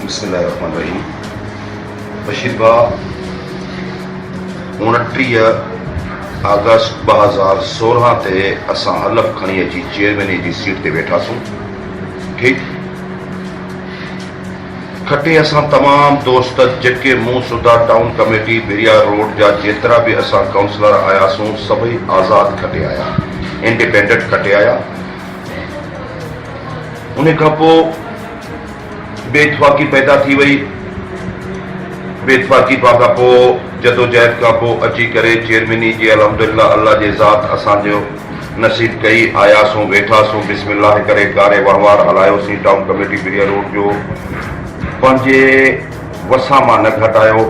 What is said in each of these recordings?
بسم الله الرحمن الرحيم بشير ڀاء اوڻٽيهه آگسٽ ٻه هزار سورهن تي اسان حلف کڻي اچي چيئرميني جي سيٽ تي ويٺاسون ٺيڪ کٽي اسان تمام دوست جيڪي مون سوڌا ٽائون ڪميٽي بحريا روڊ جا جيترا به اسان ڪائونسلر آياسون سڀئي آزاد کٽي آيا انڊيپينڊنٽ کٽي آيا انهي کان پو بي اتفاقي پيدا ٿي وئي بي اتفاقي پا کان پو جدوجهد کان پو اچي ڪري چيئرميني جي الحمدلله الله جي ذات اسان جو نصيب ڪئي، آياسون، ويٺاسون، بسم الله ڪري ڪاري وهنوار هلايوسين، ٽائون ڪميٽي بريا روڊ جو پنهنجي وسان مان نه گهٽ آيو،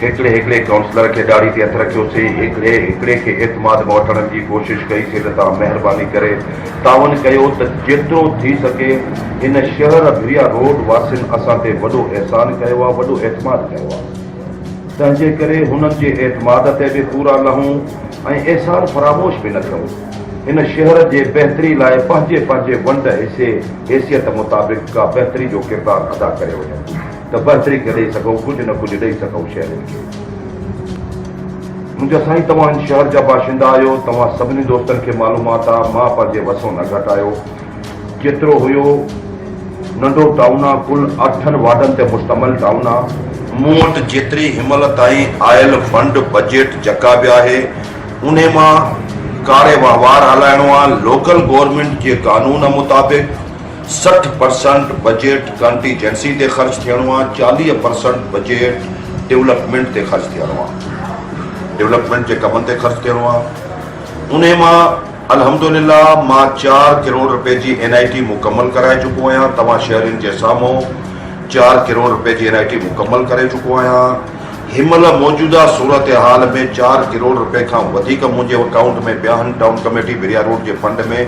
هڪڙي هڪڙي ڪائونسلر کي ڏاڙهي تي هٿ رکيوسين، هڪڙي هڪڙي کي اعتماد ۾ وٺڻ جي ڪوشش ڪئي سي ته توهان مهرباني ڪري تعاون ڪيو ته جيترو ٿي سگهي هن شهر بريا روڊ واسين اسان تي وڏو احسان ڪيو آ، وڏو اعتماد ڪيو آ. تنهنجي ڪري هنن جي اعتماد تي به پورا لهون ۽ احسان فراموش به نه ڪيون. هن شهر جي بهتري لاء پنهنجي پنهنجي ونڊ حصي حيثيت مطابق ڪا بهتري جو ڪردار ادا ڪري وڃون ته بهتري کي ڏئي سگهون ڪجهه نه ڪجهه ڏئي سگهون شهرين کي. منهنجا سائين توهان هن شهر جا باشندا آهيو توهان سڀني دوستن کي معلومات آ مان پنهنجي وسون نه گهٽايو. ڪيترو هيو ننڍو ٽائون آ ڪل اٺن وارڊن تي مشتمل ٽائون آ. مون وٽ جيتري هنمهل تائين آيل فنڊ بجيٽ جڪا به آهي انهي مان ڪاري وهنوار هلائڻو آ لوڪل گورنمينٽ جي قانون مطابق سٺ پرسنٽ بجيٽ ڪنٽيجنسي تي خرچ ٿيڻو آ چاليهه پرسنٽ بجيٽ ڊولپمينٽ تي خرچ ٿيڻو آ ڊولپمينٽ جي ڪمن تي خرچ ٿيڻو آ انهي مان الحمدلله مان چار ڪروڙ رپئي جي اين آئي ٽي مڪمل ڪرائي چڪو آهيان توهان شهرين جي سامهون چار ڪروڙ رپئي جي اين آئي ٽي مڪمل ڪري چڪو آهيان هن مهل موجوده صورتحال ۾ چار ڪروڙ رپئي کان وڌيڪ منهنجي اڪائونٽ ۾ پيا آهن ٽائون ڪميٽي بريا روڊ جي فنڊ ۾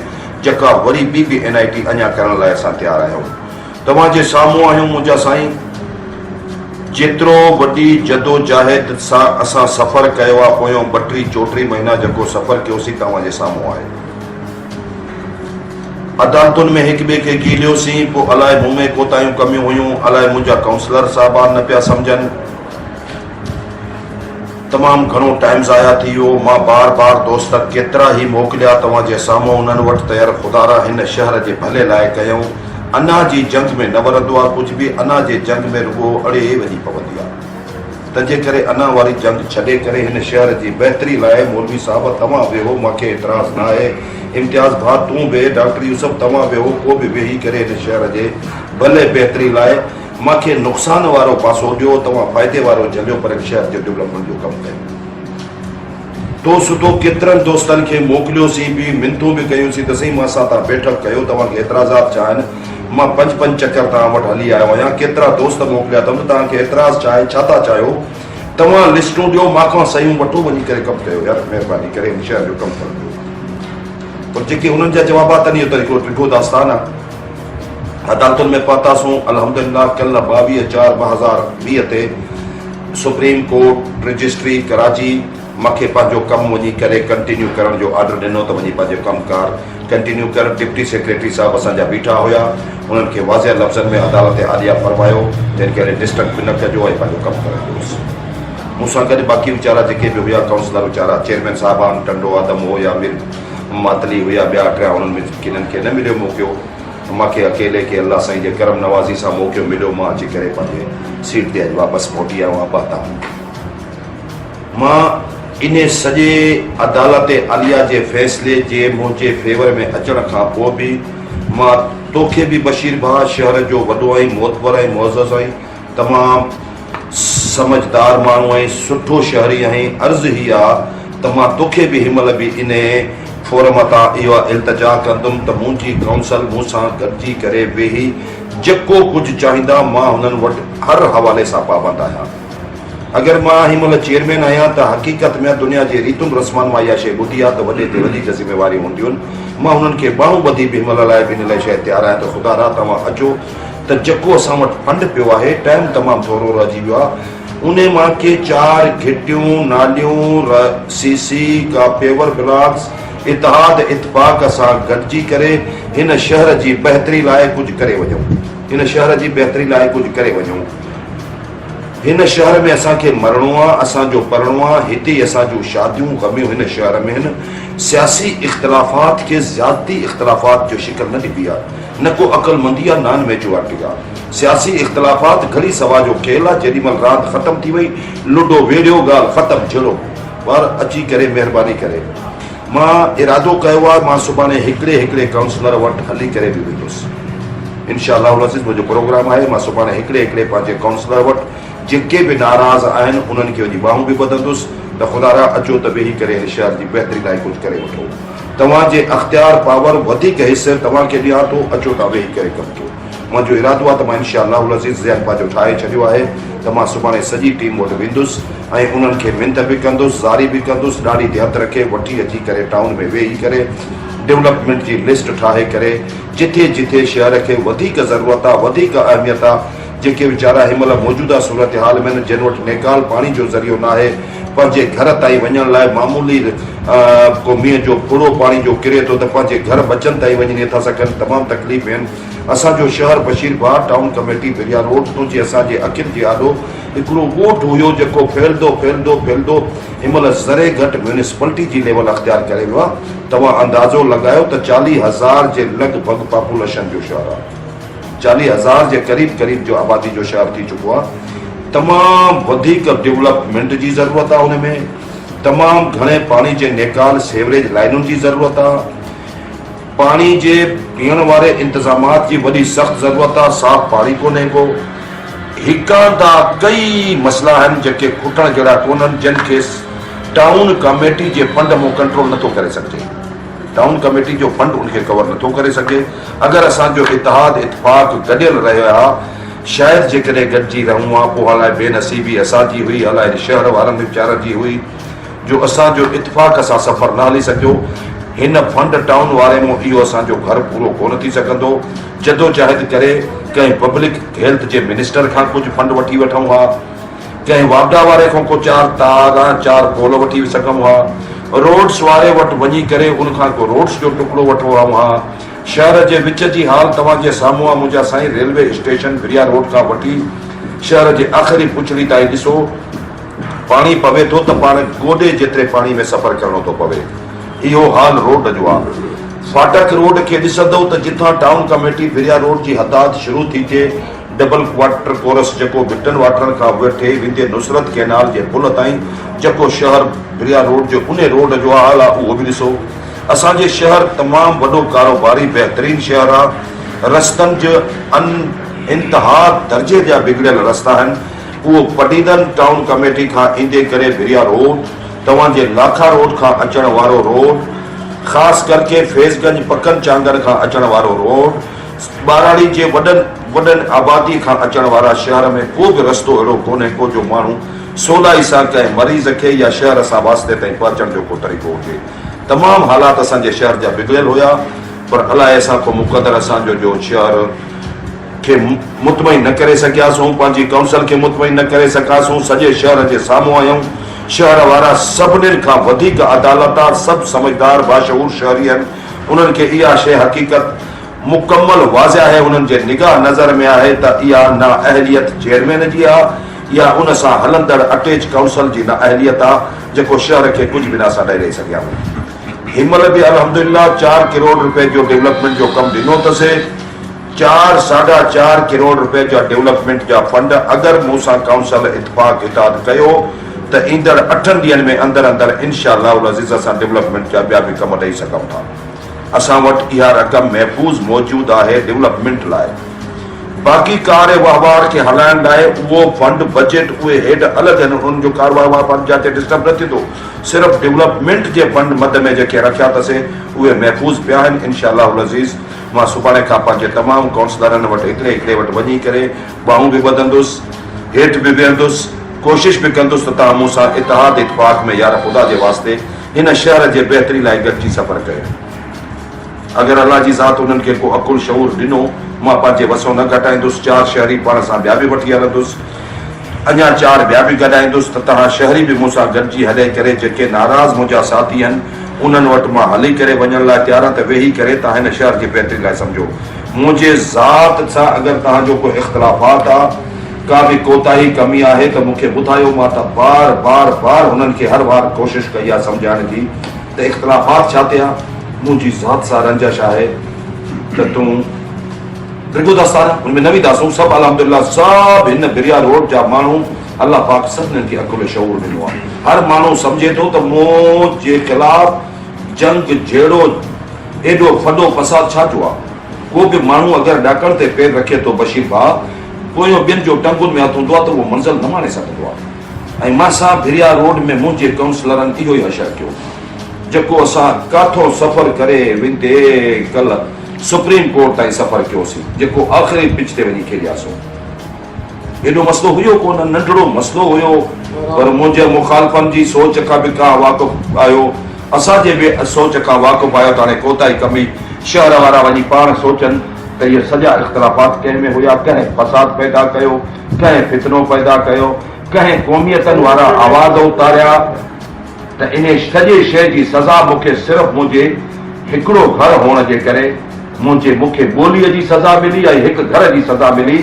جڪا وري ٻي به اين آئي ٽي اڃا ڪرڻ لاء اسان تيار آهيون توهان جي سامهون آهيون منهنجا سائين. جيترو وڏي جدوجاهد سان اسان سفر ڪيو آ پويون ٻه ٽي چوٽي مهينا جيڪو سفر ڪيوسين توهان جي سامهون آهي. عدالتن ۾ هڪ ٻئي کي گيليوسين پو الاء مون ۾ ڪوتاهيون ڪميون هيون الاء منهنجا ڪائونسلر صاحبان نه پيا سمجهن. تمام گهڻو ٽائيم ضايع ٿي ويو، مان بار بار دوست ڪيترا هي موڪليا توهان جي سامهون انهن وٽ تير خدارا هن شهر جي ڀلي لاء ڪيائون، انا جي جنگ ۾ نه ورندو آ ڪجهه به انا جي جنگ ۾ رڳو اڙي وڃي پوندي آ تنهنجي ڪري انا واري جنگ ڇڏي ڪري هن شهر جي بهتري لاء مولوي صاحب توهان ويهو مونکي اعتراض نه آهي امتياز ڀاء تون به ڊاڪٽر يوسف توهان ويهو ڪو به ويهي ڪري هن شهر جي ڀلي بهتري لاء مان کي نقصان وارو پاسو ڏيو توهان فائدي وارو جهليو پر شهر جي ڊولپمينٽ جو ڪم ڪيو تو سڌو ڪيترن دوستن کي موڪليو سين به منتون به ڪيون سين ته سائين مان سان تان بيٺڪ ڪيو توهان کي اعتراضات ڇا آهن مان پنج پنج چڪر توهان وٽ هلي آيو آهيان ڪيترا دوست موڪليا اٿم ته توهان کي اعتراض ڇا آهي ڇا ٿا چاهيو توهان لسٽون ڏيو مان کان صحيحون وٺو وڃي ڪري ڪم ڪيو يار مهرباني ڪري هن شهر جو ڪم ڪرو پر جيڪي انهن جا جوابات آهن اهو ته هڪڙو ڊگهو داستان آهي عدالتن ۾ پهتاسون الحمدلله ڪلهه ٻاويهه چار ٻه هزار ويهه تي سپريم ڪورٽ رجسٽري ڪراچي مکي پنهنجو ڪم وڃي ڪري ڪنٽينيو ڪرڻ جو آرڊر ڏنو ته وڃي پنهنجو ڪم ڪار ڪنٽينيو ڪر ڊپٽي سيڪريٽري صاحب اسان جا بيٺا هيا انهن کي واضح لفظن ۾ عدالت عاليه فرمايو ته هن کي هلي ڊسٽرڪ به نه ڪجو ۽ پنهنجو ڪم ڪرڻ ڏيوس مون سان گڏ باقي ويچارا جيڪي به هيا ڪائونسلر ويچارا چيئرمين صاحبان ٽنڊو آدم هو يا مير ماتلي هيا ٻيا ٽيا انهن ۾ ڪنهن کي نه مليو موقعو ته مان کي اڪيلي کي الله سائين جي ڪرم نوازي سان موقعو مليو مان اچي ڪري پنهنجي سيٽ تي اڄ واپس موٽي آيو آهيان بهتا هون مان انهي سڄي عدالت عليا جي فيصلي جي منهنجي فيور ۾ اچڻ کان پوء به مان توکي به بشير ڀاء شهر جو وڏو آهين معتبر آهين معزز آهين تمام سمجهدار ماڻهو ۽ سٺو شهري آهين عرض هي آ ته مان توکي به هن مهل به انهي فورم تان اهو التجا ڪندم ته منهنجي ڪائونسل مون سان گڏجي ڪري ويهي جيڪو ڪجهه چاهيندا مان هنن وٽ هر حوالي سان پابند آهيان اگر مان هن مهل چيئرمين آهيان ته حقيقت ۾ دنيا جي ريتن رسمن مان اها شئي ٻڌي آ ته وڏي تي وڏي ذميواريون هونديون مان هنن کي ٻانهون ٻڌي به هن مهل لاء به ان لاء شئي تيار آهيان ته خدا را توهان اچو ته جيڪو اسان وٽ فنڊ پيو آهي، ٽائيم تمام ٿورو رهجي ويو آهي، انهي مان ڪي چار گهٽيون، ناليون، ر سي سي، ڪا پيور بلاڪس، اتحاد اتفاق سان گڏجي ڪري هن شهر جي بهتري لاء ڪجهه ڪري وڃون. هن شهر جي بهتري لاء ڪجهه ڪري وڃون. هن شهر ۾ اسان کي مرڻو آ، اسان جو پرڻو آ، هتي ئي اسان جون شاديون، غميون هن شهر ۾ هن سياسي اختلافات کي زيادتي اختلافات جو شڪل نه ڏبي آ. نه ڪو عقلمندي آ نان ميجوارٽي آ سياسي اختلافات گهڙي سوا جو کيل آ جيڏي مهل راند ختم ٿي وئي لوڊو ويڙهيو ڳالهه ختم جهڙو ٻار اچي ڪري مهرباني ڪري مان ارادو ڪيو آ مان سڀاڻي هڪڙي هڪڙي ڪائونسلر وٽ هلي ڪري به ويندس انشاء الله العزيز منهنجو پروگرام آهي مان سڀاڻي هڪڙي هڪڙي پنهنجي ڪائونسلر وٽ جيڪي به ناراض آهن انهن کي وڃي ٻانهون به ٻڌندس ته خدا را اچو ته ويهي ڪري هن شهر جي بهتري لاء ڪجهه ڪري وٺو. توهان جي اختيار، پاور، وڌيڪ حيثيت توهان کي ڏيان ٿو، اچو ته ويهي ڪري ڪم ڪيون. منهنجو ارادو آهي ته مان انشاء الله العزيز ذهن پنهنجو ٺاهي ڇڏيو آهي ته مان سڀاڻي سڄي ٽيم وٽ ويندس ۽ انهن کي منٿ به ڪندس، زاري به ڪندس، ڏاڙهي تي هٿ رکي وٺي اچي ڪري ٽائون ۾ ويهي ڪري ڊولپمينٽ جي لسٽ ٺاهي ڪري جٿي جٿي شهر کي وڌيڪ ضرورت آهي، وڌيڪ اهميت آهي، جيڪي ويچارا هن مهل موجوده صورتحال ۾ آهن، جن وٽ نيڪال پاڻي جو ذريعو ناهي، پنهنجي گهر تائين وڃڻ لاء معمولي ڪو مينهن جو ڦڙو پاڻي جو ڪري ٿو ته پنهنجي گهر ٻچن تائين وڃي نٿا سگهن تمام تڪليف ۾ آهن اسان جو شهر Bashir Bagh town committee Bhiria road تون جي اسان جي اکين جي آڏو هڪڙو ڳوٺ هيو جيڪو ڦهلدو ڦهلدو ڦهلدو هن مهل ذري گهٽ ميونسپلٽي جي ليول اختيار ڪري ويو آهي توهان اندازو لڳايو ته چاليهه هزار جي لڳ ڀڳ پاپوليشن جو شهر آهي چاليهه هزار جي قريب قريب جو آبادي جو شهر ٿي چڪو آهي تمام وڌيڪ ڊولپمينٽ جي ضرورت آهي ان ۾ تمام گهڻي پاڻي جي نيڪال سيوريج لائنن جي ضرورت آهي پاڻي جي پيئڻ واري انتظامات جي وڏي سخت ضرورت آهي صاف پاڻي ڪونهي ڪو هڪان دا ڪئي مسئلا آهن جيڪي کٽڻ جهڙا ڪونهن جن کي ٽائون ڪاميٽي جي فنڊ مون ڪنٽرول نٿو ڪري سگهجي ڊائون ڪميٽي جو فنڊ ان کي ڪور نٿو ڪري سگهي. اگر اسان جو اتحاد اتفاق گڏيل رهي ها شايد جيڪڏهن گڏجي رهون ها پوء هالائي بي نصيبي اسان جي هئي هالائي هن شهر وارن ويچارن جي هئي جو اسان جو اتفاق سان سفر نه هلي سگهيو هن فنڊ ٽائون واري مون اهو اسان جو گهر پورو ڪونه ٿي سگهندو جدوجاهد ڪري ڪنهن پبلڪ هيلٿ جي منسٽر کان ڪجهه فنڊ وٺي وٺون ها. ڪنهن واگا واري کان ڪو چار تار ۽ چار پول وٺي سگهئم ها. روڊس واري وٽ وڃي ڪري ان کان ڪو روڊس جو ٽڪڙو وٺو هئم ها. شهر جي وچ جي حال توهان جي سامهون آ منهنجا سائين ريلوي اسٽيشن بريا روڊ کان وٺي شهر جي آخري پڇڙي تائين ڏسو پاڻي پوي ٿو ته پاڻ گوڏي جيتري پاڻي ۾ سفر ڪرڻو ٿو پوي اهو حال روڊ جو آ. فاٽڪ روڊ کي ڏسندؤ ته جتان ٽائون ڪميٽي بريا روڊ جي حداد شروع ٿي ٿئي ڊبل واٽر ڪورس جيڪو ڀٽن واٽر کان وٺي ويندي نصرت ڪئنال جي پل تائين جيڪو شهر بريا روڊ جو انهي روڊ جو حال آ اهو به ڏسو اسان جي شهر تمام وڏو ڪاروباري بهترين شهر آ رستن جي ان انتها درجي جا بگڙيل رستا آهن اهو پڊيدن ٽائون ڪميٽي کان ايندي ڪري بريا روڊ توهان جي لاکا روڊ کان اچڻ وارو روڊ خاص ڪرڪي فيض گنج پڪن چانگر کان اچڻ وارو روڊ ٻهراڙي جي وڏن وڏن آبادي کان اچڻ وارا شهر ۾ ڪو به رستو اهڙو ڪونهي ڪو جو ماڻهو سولائي سان ڪنهن مريض کي يا شهر سان واسطي تائين پهچڻ جو ڪو طريقو هجي تمام حالات اسان جي شهر جا بگڙيل هيا پر الاء اسان ڪو مقدر اسان جو جو شهر کي مطمئن نه ڪري سگهياسون پنهنجي ڪائونسل کي مطمئن نه ڪري سگهاسون سڄي شهر جي سامهون آيون شهر وارا سڀنين کان وڌيڪ عدالتا سڀ سمجهدار باشعور شهري آهن انهن کي اها شيء حقيقت مڪمل واضح آهي، انهن جي نگاهه نظر ۾ آهي ته اها نااهليت چيئرمين جي آ يا ان سان هلندڙ اٽيچ ڪائونسل جي نااهليت آ جيڪو شهر کي ڪجهه به ناسا نه ڏئي سگهيا هئا. هن مهل به الحمدلله چار ڪروڙ روپين جو ڊولپمينٽ جو ڪم ڏنو اٿسي. چار ساڍا چار ڪروڙ رپين جا ڊولپمينٽ جا فنڊ اگر مون سان ڪائونسل اتفاق اتحاد ڪيو ته ايندڙ اٺن ڏينهن ۾ اندر اندر انشاء الله العزيز اسان ڊولپمينٽ جا ٻيا به ڪم ڏئي سگهون ٿا اسان وٽ اها رقم محفوظ موجود آهي ڊولپمينٽ لاء باقي ڪار وهنوار کي هلائڻ لاء اهو فنڊ بجيٽ اهي هيڊ الڳ آهن انهن جو ڪار وهنوار فنڊ جاتي ڊسٽرب نه ٿيندو صرف ڊولپمينٽ جي فنڊ مد ۾ جيڪي رکيا اٿس اهي محفوظ پيا آهن انشاء الله العزيز مان سڀاڻي کان پنهنجي تمام ڪائونسلرن وٽ هڪڙي هڪڙي وٽ وڃي ڪري ٻانهون به ٻڌندس، هيٺ به ويهندس، ڪوشش به ڪندس ته توهان مون سان اتحاد اتفاق ۾ يار خدا جي واسطي هن شهر جي بهتري لاء گڏجي سفر ڪيو. اگر الله جي ذات انهن کي ڪو عقل شعور ڏنو، مان پنهنجي وسون نه گهٽائيندس، چار شهري پاڻ سان ٻيا به وٺي هلندس، اڃا چار ٻيا به گڏائيندس ته توهان شهري به مون سان گڏجي هلي ڪري جيڪي ناراض منهنجا ساٿي هن، انهن وٽ مان هلي ڪري وڃڻ لاء تيار آهيان ته ويهي ڪري توهان هن شهر جي بهتري لاء سمجهو. منهنجي ذات سان اگر توهان جو ڪو اختلافات آ، ڪا به ڪوتاهي ڪمي آهي ته مون کي ٻڌايو. مان ته بار بار بار هنن کي هر وار ڪوشش ڪئي آ سمجهائڻ جي ته اختلافات ڇا تي آ. منهنجي ذات سان رنجش آهي ته تون ڊگهو داستان آ. هن ۾ نه وينداسون. سڀ الحمدلله سڀ هن بريا روڊ جا ماڻهو الله پاڪ سڀنن کي عقل شعور ڏنو آهي هر ماڻهو سمجهي ٿو ته موت جي خلاف جنگ جهڙو ايڏو ڦڏو فساد ڇا جو آهي ڪو به ماڻهو اگر ڏاڪڻ تي پير رکي ٿو بشير ڀاء پويون ٻين جو ٽنگن ۾ هٿ هوندو آهي ته اهو منزل نه ماڻي سگهندو آهي ۽ مان سان ڀريا روڊ ۾ منهنجي ڪائونسلرن اهو ئي حشر ڪيو جيڪو اسان ڪاٿون سفر ڪري ويندي ڪلهه سپريم ڪورٽ تائين سفر ڪيوسين جيڪو آخري پچ تي وڃي کيڏياسون. هيڏو مسئلو هيو ڪونه، ننڍڙو مسئلو هيو، پر منهنجي مخالفن جي سوچ کان به ڪا واقف آهيو، اسان جي به سوچ کان واقف آهيو ته هاڻي ڪوتاهي ڪبي، شهر وارا وڃي پاڻ سوچن ته اهي سڄا اختلافات ڪنهن ۾ هيا، ڪنهن فساد پيدا ڪيو، ڪنهن فتنو پيدا ڪيو، ڪنهن قوميتن وارا آواز اٿاريا. ته انهي سڄي شيء جي سزا مون کي صرف منهنجي هڪڙو گهر هئڻ جي ڪري منهنجي مون کي ٻوليء جي سزا ملي ۽ هڪ گهر جي سزا ملي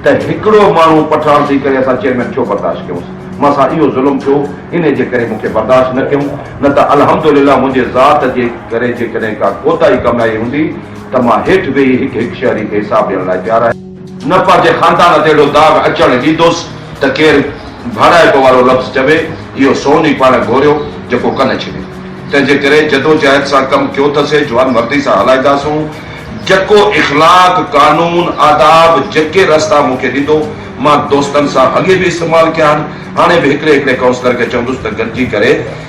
ته هڪڙو ماڻهو پٺاڻ ٿي ڪري اسان چيئرمين ڇو برداشت ڪيونس مان سان اهو ظلم ٿيو انهي جي ڪري مون کي برداشت نه ڪيون نه ته الحمد لله منهنجي ذات جي ڪري جيڪڏهن ڪا ڪوتاهي ڪم آئي هوندي ته مان هيٺ ويهي هڪ هڪ شهري کي حساب ڏيڻ لاء تيار آهيان. نه پنهنجي خاندان تي اهڙو داغ اچڻ ڏيندوس ته ڪير ڀائڙائپ وارو لفظ چوي، اهو سون ئي پاڻ گهوريو جيڪو ڪن ڇڏي. تنهنجي ڪري جدوجهد سان ڪم ٿيو ته سي جوانمردي سان هلائينداسون، جيڪو اخلاق، قانون، آداب جيڪي رستا مون کي ڏيندو، مان دوستن سان اڳي به استعمال ڪيا آهن، هاڻي به هڪڙي هڪڙي ڪائونسلر کي چوندس ته گڏجي ڪري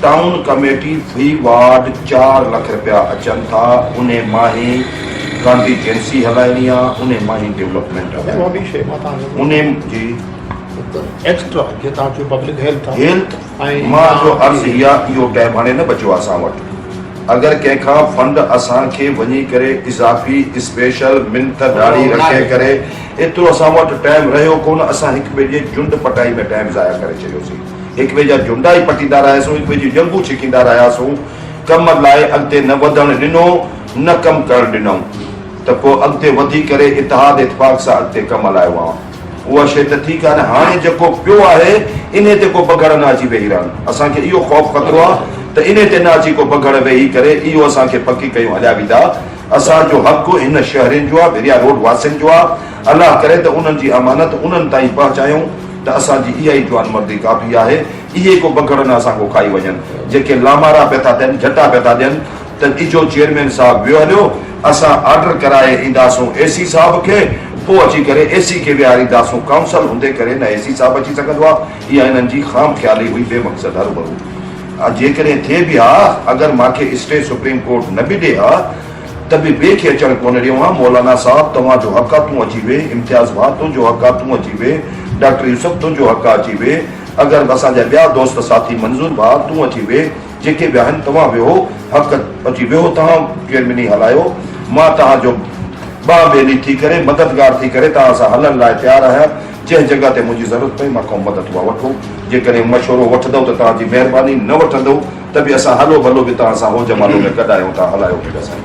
ٽائون ڪميٽي في وارڊ چار لک رپيا اچن ٿا انهي مان هي ڪانٽيجنسي هلائڻي آ انهي مان هي ڊيولپمينٽ هيلٿ مان جو عرض هي آ اهو ٽيم هاڻي نه بچيو آ اسان وٽ اگر ڪنهن کان فنڊ اسان کي وڃي ڪري اضافي اسپيشل منٿ ڏاڙهي رکي ڪري ايترو اسان وٽ ٽيم رهيو ڪونه اسان هڪ ٻئي جي جنڊ پٽائي ۾ ٽيم ضايع ڪري ڇڏيوسين. هڪ ٻئي جا جهنڊا ئي پٽيندا رهياسون، هڪ ٻئي جون ڄنگهون ڇڪيندا رهياسون، ڪم لاء اڳتي نه وڌڻ ڏنو، نه ڪم ڪرڻ ڏنائون ته پوء اڳتي وڌي ڪري اتحاد اتفاق سان اڳتي ڪم هلايو هئائون. اها شيء ته ٺيڪ آهي نه، هاڻي جيڪو پيو آهي انهي تي ڪو بگهڙ نه اچي ويهي رهن، اسان کي اهو خوف خطرو آهي ته انهي تي نه اچي ڪو بگهڙ ويهي ڪري اهو اسان کي پڪي ڪيون هليا ويندا، اسان جو حق هن شهرين جو آهي، ڀريا روڊ واسين جو آهي. الله ڪري ته انهن جي امانت انهن تائين پهچايون ته اسان جي اها ئي جوانمردي ڪافي آهي. اهي ڪو بگهڙ نه اسان کان کائي وڃن. جيڪي لامارا پيا ٿا ٿين، جهٽا پيا ٿا ڏين ته اجهو چيئرمين صاحب ويو هليو، اسان آرڊر ڪرائي اينداسون اي سي صاحب کي، پوء اچي ڪري اي سي کي ويهارينداسون، ڪائونسل هوندي ڪري نه اي سي صاحب اچي سگهندو آهي. اها هنن جي خام خيالي هئي، بي مقصد هرو ڀرو. جيڪڏهن ٿئي به ها، اگر مان کي اسٽي سپريم ڪورٽ نه به ڏي ها، ته به ٻئي کي اچڻ ڪونه ڏيون ها، مولانا صاحب توهان جو حق آ تون اچي ويهه، امتياز ڀاء تنهنجو حق آ تون اچي ويهه، ڊاڪٽر يوسف تنهنجو حق آ اچي ويهه، اگر به اسان جا ٻيا دوست ساٿي منظور ڀاء تون اچي ويهه، جيڪي به آهن توهان ويهو، حق اچي ويهو توهان چيئرميني هلايو، مان توهان جو ٻانهن ٻيلي ٿي ڪري مددگار ٿي ڪري توهان سان هلڻ لاء تيار آهيان، جنهن جڳهه تي منهنجي ضرورت پئي مان کان مدد اها وٺو، جيڪڏهن مشورو وٺندؤ ته توهان جي مهرباني، نه وٺندؤ ته به اسان هلو ڀلو به توهان سان هو جمالو ۾ گڏ آهيون ٿا هلايو ٺڳ سائين.